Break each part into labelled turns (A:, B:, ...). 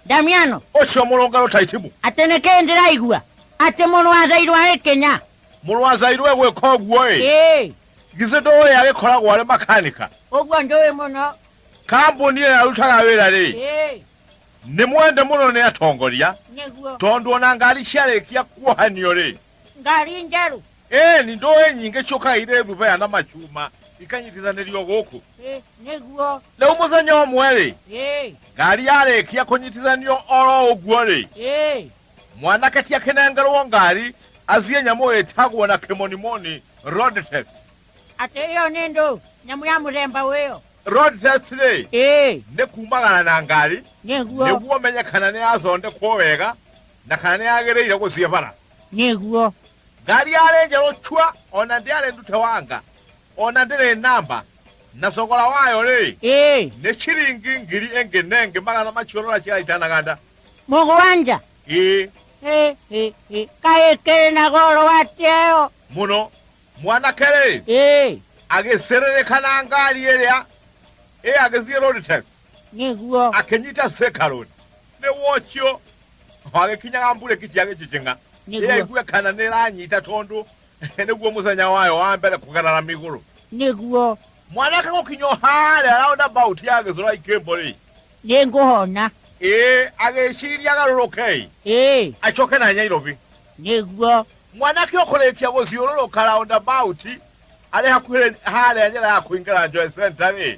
A: damiano ũcio mũrũngano taitimu atenekee ndĩraigua atĩ mũrũ wa thairũ arĩ kenya mũrũ wa zairwe gwĩka ũguo ĩ ĩĩ githĩ ndũĩ agĩkoragwo arĩ makanika ũguo ndũĩ mũno kambuni ĩyo arutaga wĩra rĩ ĩĩ nĩ mwende mũno nĩ atongoria nĩguo tondũ ona ngari ciarĩkia kuohanio rĩ ngari njerũ ĩĩ nĩ ndũĩ nyingĩ ciũkaire thubaya na macuma ikanyitithanĩrio gũkũ Ĩ, nĩguo rĩu mũthenya ũmwe-rĩ ĩ ngari yarĩkia kũnyitithanio oro ũguo-rĩ ĩ mwanake ti akĩnengerwo ngari athiĩ nyamũ ĩtagwo na kĩmonimoni road test atĩ ĩyo nĩ ndũ nyamũ ya mũthemba ũyũ road test rĩ ĩ nĩ kumagana na ngari nĩguo nĩguo menye kana nĩ yathondekwo wega na kana nĩ yagĩrĩire gũthiĩ bara Nĩguo. Ngari yarĩ njerũ cua, o na ndĩarĩ ndute wanga, o na ndĩrĩ namba, na thogora wayo-rĩ, Ĩĩ. nĩ ciringi ngiri ĩngĩ na ĩngĩ magana macio rora ciara itanaganda. Mũgwanja. Ĩĩ, Ĩ, ĩ, ĩ. Kaĩ ĩkĩrĩ na goro atĩa ĩyo? mũno. Mwanake-rĩ, Ĩĩ. agĩcĩrĩrĩka na ngari ĩrĩa ĩ agĩthiĩ road test, Nĩguo. akĩnyita Thika Road. Nĩ wocio wagĩkinyaga mbura ĩkĩjia gĩjijing'a Nĩguo. ĩrĩa igue kana nĩ ĩranyita tondũ nĩguo mũthenya wayo wa mbere kũgarara mĩgũrũ nĩguo mwanake gũkinya o harĩa roundabout ya gĩcũra ikĩmbũ-rĩ nĩ ngũhona ĩĩ agĩciria agarũrũke-ĩ ĩĩ acoke na nyairobi nĩguo mwanake ũkũrĩkia gũciũrũrũka roundabout arĩ hakuhĩ harĩa njĩra ya kũingĩra Joy Center-rĩ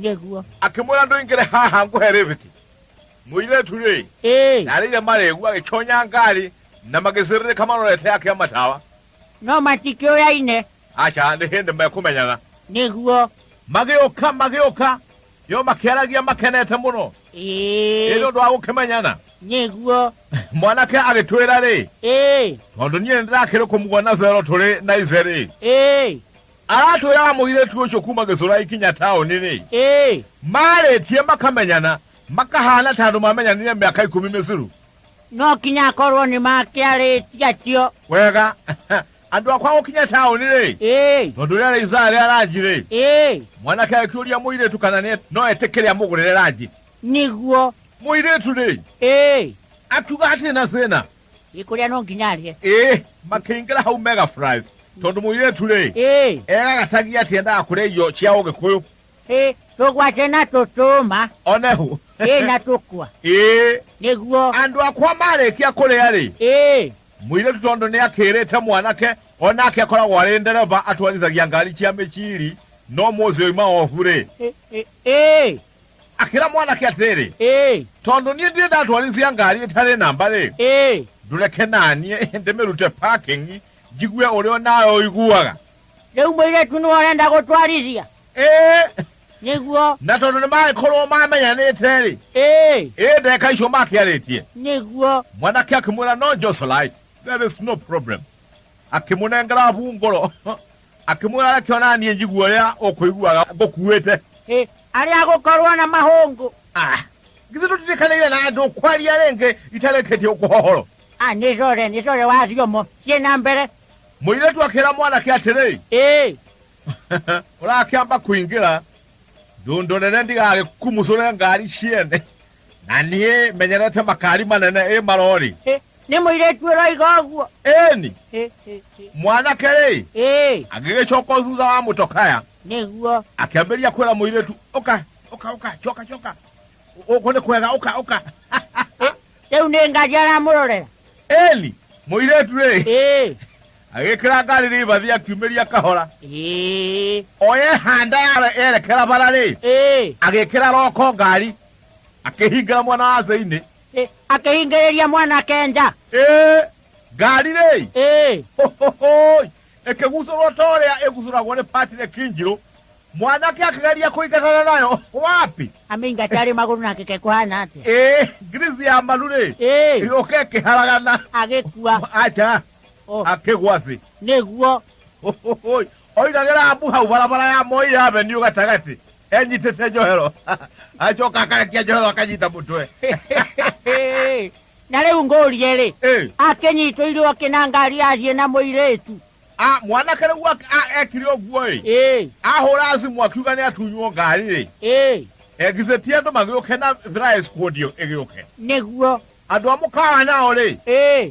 A: nĩguo akĩmwĩra ndũingĩre haha ngũhe rĩbiti mũirĩtu-rĩ ĩĩ narĩire marĩgu agĩconya ngari na magĩcĩrĩrĩka marorete akĩa matawa no matikĩũyaine aca nĩ hĩndĩ mekũmenyana nĩguo magĩũka magĩũka yo makĩaragia makenete mũno ĩĩ ĩrĩ ũndũ wa gũkĩmenyana nĩguo mwanake agĩtwĩra-rĩ ĩĩ tondũ niĩ nĩndĩrakĩrĩ kũmuona zero tũrĩ na ice-rĩ ĩĩ aratwĩra mũirĩtu ũcio kuma gĩcũra ikinya taũni-rĩ ĩĩ marĩtie makamenyana makahana ta andũ mamenyanire mĩaka ikũmi mĩcuru no kinya akorwo nĩ makĩarĩtie acio wega andũ akwa gũkinya taũni-rĩ ĩĩ tondũ rĩrĩa rĩisaa rĩa ranji-rĩ ĩĩ mwanake akĩũria mũirĩtu kana nĩ no etĩkĩre amũgũrĩre ranji nĩguo mũirĩtu-rĩ ĩĩ akiuga hatirĩ na thĩna ikũrĩa no nginya arĩe ĩĩ makĩingĩra hau mega fries tondũ mũirĩtu rĩ ĩĩ egagatagia atĩ endaga kũrĩa irio cia ũgĩkũyũ ĩĩ tũgwace na tũtũma onehu ĩĩ na tũkwa ĩĩ nĩguo andũ akwa marĩkia kũrĩa rĩ ĩĩ mũirĩtu tondũ nĩ akĩrĩte mwanake onake akoragwo arĩ ndereba atwarithagia ngari cia mĩciri no mũthĩ oima obu rĩ ĩ- ĩ- ĩĩ akhĩra mwanake atĩrĩ ĩĩ tondũ niĩ ndirĩ ndatwarithia ngari ĩtarĩ namba rĩ ĩĩ ndũreke naniĩ ndĩmĩrute parking njigue ũrĩa nawe ũiguaga rĩu mũirĩtu nĩ ũrenda gũtwarithia ĩĩ nĩguo na tondũ nĩ magĩkorwo mamenyanĩte rĩ ĩĩ ĩĩ ndeka icio makĩarĩtie nĩguo mwanake akĩmwĩra no joselite there is no problem akĩmũnengera hungũro akĩmwĩra reke o na niĩ njigue ũrĩa ũkũiguaga ngũkuĩte Ĩ, arĩ agũkorwo na mahũngũ Ah, githĩ tũtirikanĩire na andũ kwaria rĩngĩ itarĩkĩtie ũkũhohoro a nĩ core nĩ core wa thiomo ciĩ na mbere mũirĩtu akĩra mwanake atĩrĩ ĩ ũrakĩamba kũingĩra ndũndũ nene ndigagĩkumucũre ngari ciene na niĩ menyerete makari manene ĩ marori Ĩ, nĩ mũirĩtu ũroiga ũguo ĩni Ĩ, ĩ, ĩ. mwanake rĩ Ĩ, agĩgĩcoka thutha wa mũtokaya nĩguo akĩambĩrĩria kwĩra mũirĩtu ũka ũka ũka coka coka ũkũ nĩ kwega ũka ũka rĩu nĩ ngaji aramũrorera ĩni mũirĩtu rĩ Ĩ, agĩkĩra ngari rĩbathi akiumĩria kahora ĩĩ o yehanda yare- yerekera bara rĩ ĩĩ agĩkĩra roko ngari akĩhingĩra mwana wa thĩinĩ ĩ, akĩhingĩrĩria mwanake nja ĩ ngari rĩ ĩĩ Hohohoi! ĩkĩgucũrwo ta ũrĩa ĩgucũragwo nĩ patire kinjirũ mwanake akĩgeria kũingatana nayo wapi amĩingata rĩ magũrũ na kĩke kũhana atĩa ĩ ngirici ya maru rĩ ĩĩ ĩgĩũka ĩkĩharagana agĩkua aca Oh. akĩgwa thĩ nĩguo Ũhũhũi. oigagĩra abu hau barabara ya moi avenue gatagatĩ enyitĩte njohero acoka akarekia njohero akanyita mũtwe na rĩu ngũrie-rĩ Ĩ. akĩnyitwo irio akĩ na ngari athiĩ na mũirĩtu Ah, mwanake rĩu ak- a- ekire ũguo ĩ ĩĩ ahũra thimũ akiuga nĩ atunywo ngari rĩ ĩĩ egithĩtie andũ magĩũke na thrais kũndio ĩgĩũke nĩguo andũ a mũkawa nao rĩ ĩĩ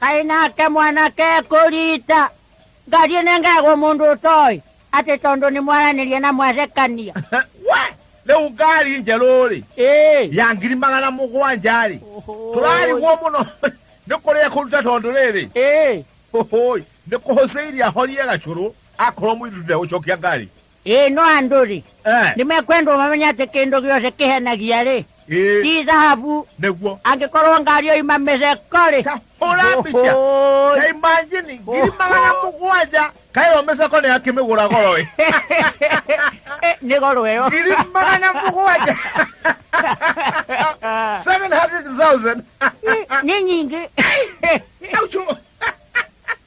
A: Kaĩ nake mwanake ekũrita ngathiĩ nengegwo mũndũ ũtoĩ atĩ tondũ nĩ mwaranĩria na mwathekania we rĩu ngari njerũ-rĩ Ĩĩ. ya ngiri magana mũgwanja-rĩ tũrarigwo mũno nĩ kũrĩa kũruta tondũ rĩrĩ Ĩĩ. hũhũi nĩ kũhũcĩirie ahorie gacũrũ akorwo mũithuthe gũcokia ngari Ĩĩ no andũ-rĩ, Eh, nĩmekwendwo mamenye atĩ kĩndũ gĩothe kĩhenagia-rĩ, ĩĩ, ti thahabu, nĩguo angĩkorwo ngari yoima mĩceko-rĩ. Ta hũra mbica Ũhũĩ. ta imanjini ngiri magana mũgwanja kaĩyo mĩceko nĩ akĩmĩgũra goro ĩ Eh, nĩ goro ĩyo. ngiri magana mũgwanja 700,000 Nĩ nyingĩ. Aucho.